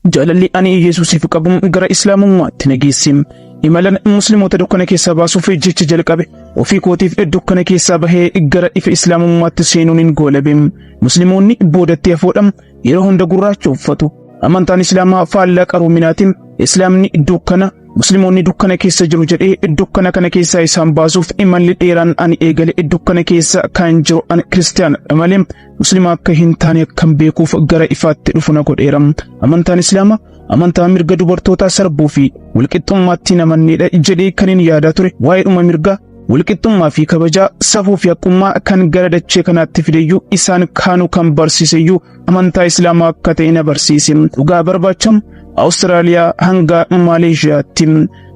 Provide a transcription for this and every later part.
Jaalalli ani Yesuusiif qabu gara Islaamummaatti na geesse. Imalan Musliimota dukkana keessaa baasuuf jecha jalqabe. Ofii kootiif dukkana keessaa bahee gara ifa Islaamummaatti seenuunin goolabe. Musliimonni boodatti hafoodha. Yeroo hunda gurraacha uffatu. Amantaan Islaamaa faallaa qaroominaati. Islaamni dukkana, Musliimonni dukkana keessa jiru jedhee dukkana kana keessaa isaan baasuuf imalli dheeraan ani eegale dukkana keessa kan jiru ani kiristaanadha malee Muslima akka hin taane akkan beekuuf gara ifaatti dhufu na godheera. Amantaan Islaamaa amantaa mirga dubartootaa sarbuu fi walqixxummaatti hin amanneedha jedhee kan hin yaadaa ture waa'eedhuma mirgaa walqixxummaa fi kabajaa safuu fi haqqummaa kan gara dachee kanaatti fideyyuu isaan kaanuu kan barsiiseyyuu amantaa Islaamaa akka ta'e na barsiise. Dhugaa barbaachamu Awustiraaliyaa hanga Maaleeshiyaatti.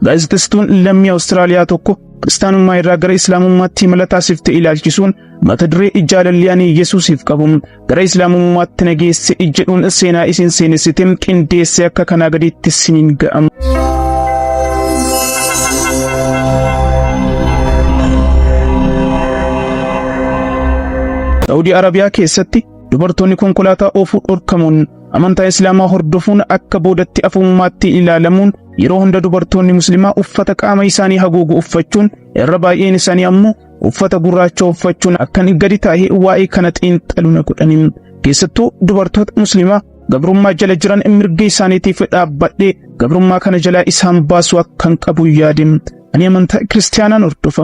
Gaazexessituun lammii Awustiraaliyaa tokko kiristaanummaa irraa gara Islaamummaatti imala taasifte ilaalchisuun Mata duree jaalalli ani Yesuusiif qabu gara Islaamummaatti na geesse jedhuun seenaa isin seenessite qindeesse akka kanaa gadiitti isiniin ga'ama. Saawudii Arabiyaa keessatti dubartoonni konkolaataa oofuu dhorkamuun amantaa Islaamaa hordofuun akka boodatti afummaatti ilaalamuun yeroo hunda dubartoonni muslimaa uffata qaama isaanii haguugu uffachuun irra baay'een isaanii ammoo uffata gurraacha uffachuun akkan gadi taa'ee waa'ee kana xiinxalu na godhani. Keessattuu dubartoota musliimaa gabrummaa jala jiran mirga isaaniitiif dhaabbadhee gabrummaa kana jalaa isaan baasuu akkan qabu yaade. Ani amantaa kiristaanaan hordofa.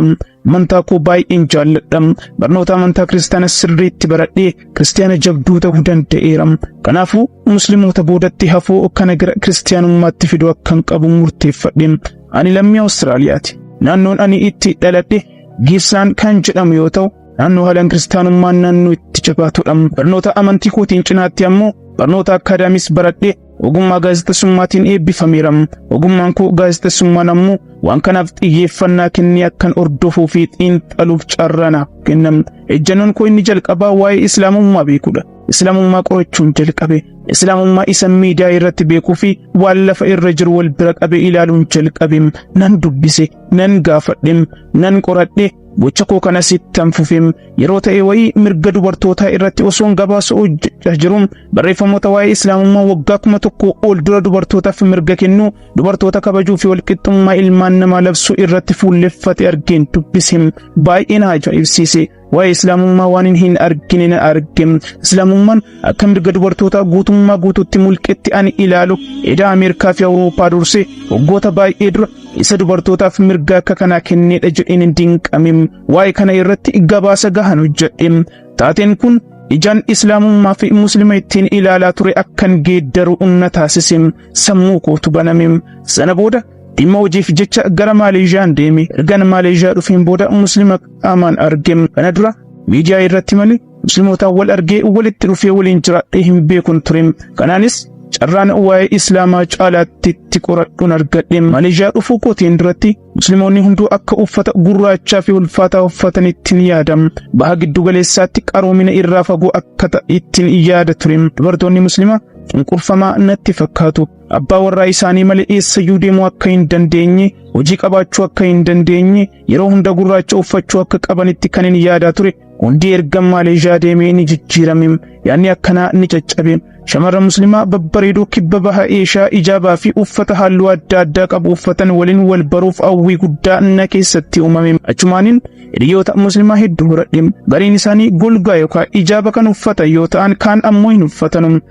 Amantaa koo baay'een jaalladha. Barnoota amantaa kiristaana sirriitti baradhee kiristaana jabduu ta'uu danda'eera. Kanaafuu musliimoota boodatti hafuu kana gara kiristaanummaatti fiduu akkan qabu murteeffadhe. Ani lammii Awustiraaliyaati. Naannoon ani itti dhaladhe Giibsaan kan jedhamu yoo ta'u, naannoo haalaan kiristaanummaan naannoo itti jabaatudha. Barnoota amantii kootiin cinaatti ammoo barnoota akkaadaamis baradhe ogummaa gaazexessummaatiin eebbifameera. Ogummaan koo gaazexessummaan ammoo waan kanaaf xiyyeeffannaa kennee akkan hordofuu fi xiinxaluuf carraa naaf kenname. Ejjannoon koo inni jalqabaa waa'ee Islaamummaa beekudha. Islaamummaa qorachuun jalqabe. Islaamummaa isa miidiyaa irratti beekuu fi waan lafa irra jiru wal bira qabee ilaaluun jalqabe. Nan dubbise, nan gaafadhe, nan qoradhe, gocha koo kanas ittan fufe. Yeroo ta'e wayii mirga dubartootaa irratti osoon gabaasa hojjechaa jiru barreeffamoota waa'ee Islaamummaa waggaa kuma tokko ol dura dubartootaaf mirga kennu, dubartoota kabajuu fi walqixxummaa ilmaan namaa labsuu irratti fuulleffate argeen dubbise. Baay'ee na ajaa'ibsiise. Waa'ee Islaamummaa waanin hin argine na arge. Islaamummaan akka mirga dubartootaa guutummaa guutuutti mulqetti ani ilaalu edaa Ameerikaa fi Awurooppaa dursee waggoota baay'ee dura isa dubartootaaf mirga akka kanaa kenneedha jedheen hin dinqame. Waa'ee kana irratti gabaasa gahan hojjedhe. Taateen kun ijaan Islaamummaa fi Muslima ittiin ilaalaa ture akkan geeddaru na taasise. Sammuu kootu baname. Sana booda dhimma hojiif jecha gara Maaleezhiyaan deeme. Ergan Maaleezhiyaa dhufeen booda Muslima qaamaan argee kana dura miidiyaa irratti malee muslimootaan wal argee walitti dhufee waliin jiraadhee hin beekun ture kanaanis carraan waa'ee islaamaa caalaatti itti qoradhuun argadhe maleeshiyaa dhufuu kootiin duratti musliimoonni hunduu akka uffata gurraachaa fi ulfaataa uffatan ittiin yaadam baha giddu galeessaatti qaroomina irraa fagoo akka ta'e ittiin yaada ture dubartoonni muslimaa cunqurfamaa natti fakkaatu abbaa warraa isaanii malee eessayyuu deemuu akka hin dandeenye hojii qabaachuu akka hin dandeenye Yeroo hunda gurraacha uffachuu akka qabanitti kan hin yaadaa ture hundi erga Maaleezhiyaa deemee ni jijjiirame. Yaadni akkanaa ni caccabe. Shamarran muslimaa babbareedoo kibba baha Eeshiyaa ijaabaa fi uffata halluu adda addaa qabu uffatan waliin wal baruuf hawwii guddaa na keessatti uumame. Achumaanin hiriyoota muslimaa hedduu horadhe. Gariin isaanii golgaa yookaan ijaaba kan uffatan yoo ta'an kaan ammoo hin uffatanu.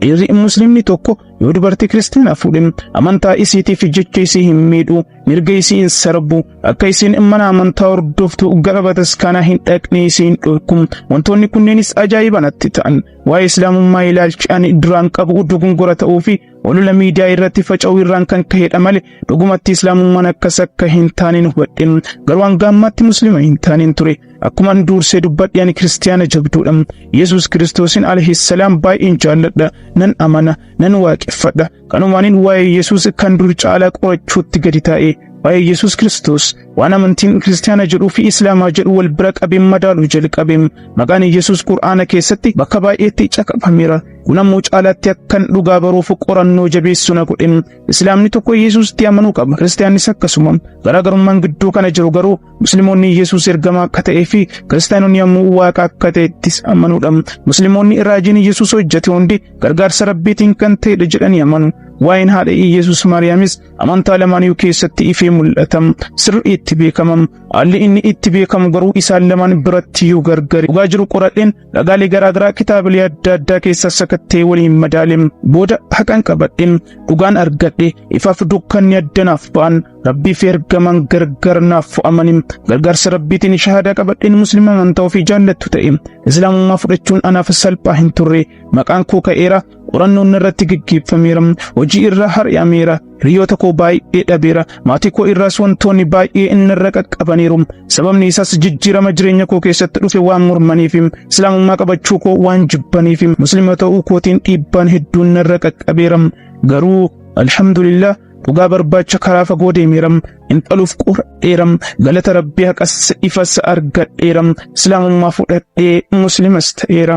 Dhiirri muslimni tokko yoo dubartii kiristaanaa fuudhe amantaa isiitiif jecha isii hin miidhu mirga isii hin sarbu akka isiin mana amantaa hordoftu gara bataskaanaa hin dhaqne isii hin dhorku wantoonni kunneenis ajaa'iba natti ta'an waa'ee islaamummaa ilaalchi ani duraan qabu dogongora ta'uu fi olola miidiyaa irratti faca'uu irraan kan ka'edha malee dhugumatti islaamummaan akkas akka hin taaneen hubadhe garuu hanga ammaatti muslima hin taaneen ture Akkuma an duursee dubbadhe ani kiristiyaana jabduudha. Yesuus Kiristoosin alhissalaam baay'een jaalladha, nan amana, nan waaqeffadha. Kanumaanin waa'ee Yesuus kan dur caalaa qorachuutti gadi taa'e. Waa'ee Yesuus Kiristoos waan amantiin kiristiyaana jedhuu fi islaamaa jedhu wal bira qabeen madaaluu jalqabe. Maqaan Yesuus Qur'aana keessatti bakka baay'eetti caqafameera. Kun ammoo caalaatti akkan dhugaa baruuf qorannoo jabeessu na godhe. Islaamni tokko Yesuusitti amanuu qaba. Kiristiyaannis akkasuma. Garaagarummaan gidduu kana jiru garuu Musliimonni Yesuus ergamaa akka ta'ee fi kiristaanonni ammoo waaqa akka ta'ettis amanuudha. Musliimonni raajiin Yesuus hojjete hundi gargaarsa Rabbiitiin kan ta'edha jedhanii amanu. Waa'een haadha Yesuus Maariyaamis amantaa lamaaniyyuu keessatti ifee mul'ata. Sirrii itti beekama. Haalli inni itti beekamu garuu isaan lamaan biratti yoo gargari. Dhugaa jiru qoradheen Dhagaalee garaagaraa kitaabilee adda addaa keessa sakattee waliin madaale booda haqan qabadhe dhugaan argadhe ifaaf dukkanni adda naaf ba'an rabbii fi ergamaan gargar naaf fo'amani gargaarsa rabbiitiin shahaadaa qabadheen muslima amantaa ofii jaallattu ta'e islaamummaa fudhachuun anaaf salphaa hin turre maqaan koo ka'eera qorannoon irratti geggeeffameera hojii irraa har'ameera Hiriyoota koo baay'ee dhabeera. Maatii koo irraas wantoonni baay'ee inni irra qaqqabaniiru. Sababni isaas jijjiirama jireenya koo keessatti dhufe waan mormaniif, Islaamummaa qabachuu koo waan jibbaniif, Musliima ta'uu kootiin dhiibbaan hedduun narra qaqqabeera. Garuu alhamdulillah dhugaa barbaacha karaa fagoo deemeera. Intaluuf qoradheera. Galata Rabbii haqas ifas argadheera. Islaamummaa fudhadhee Muslimas ta'eera.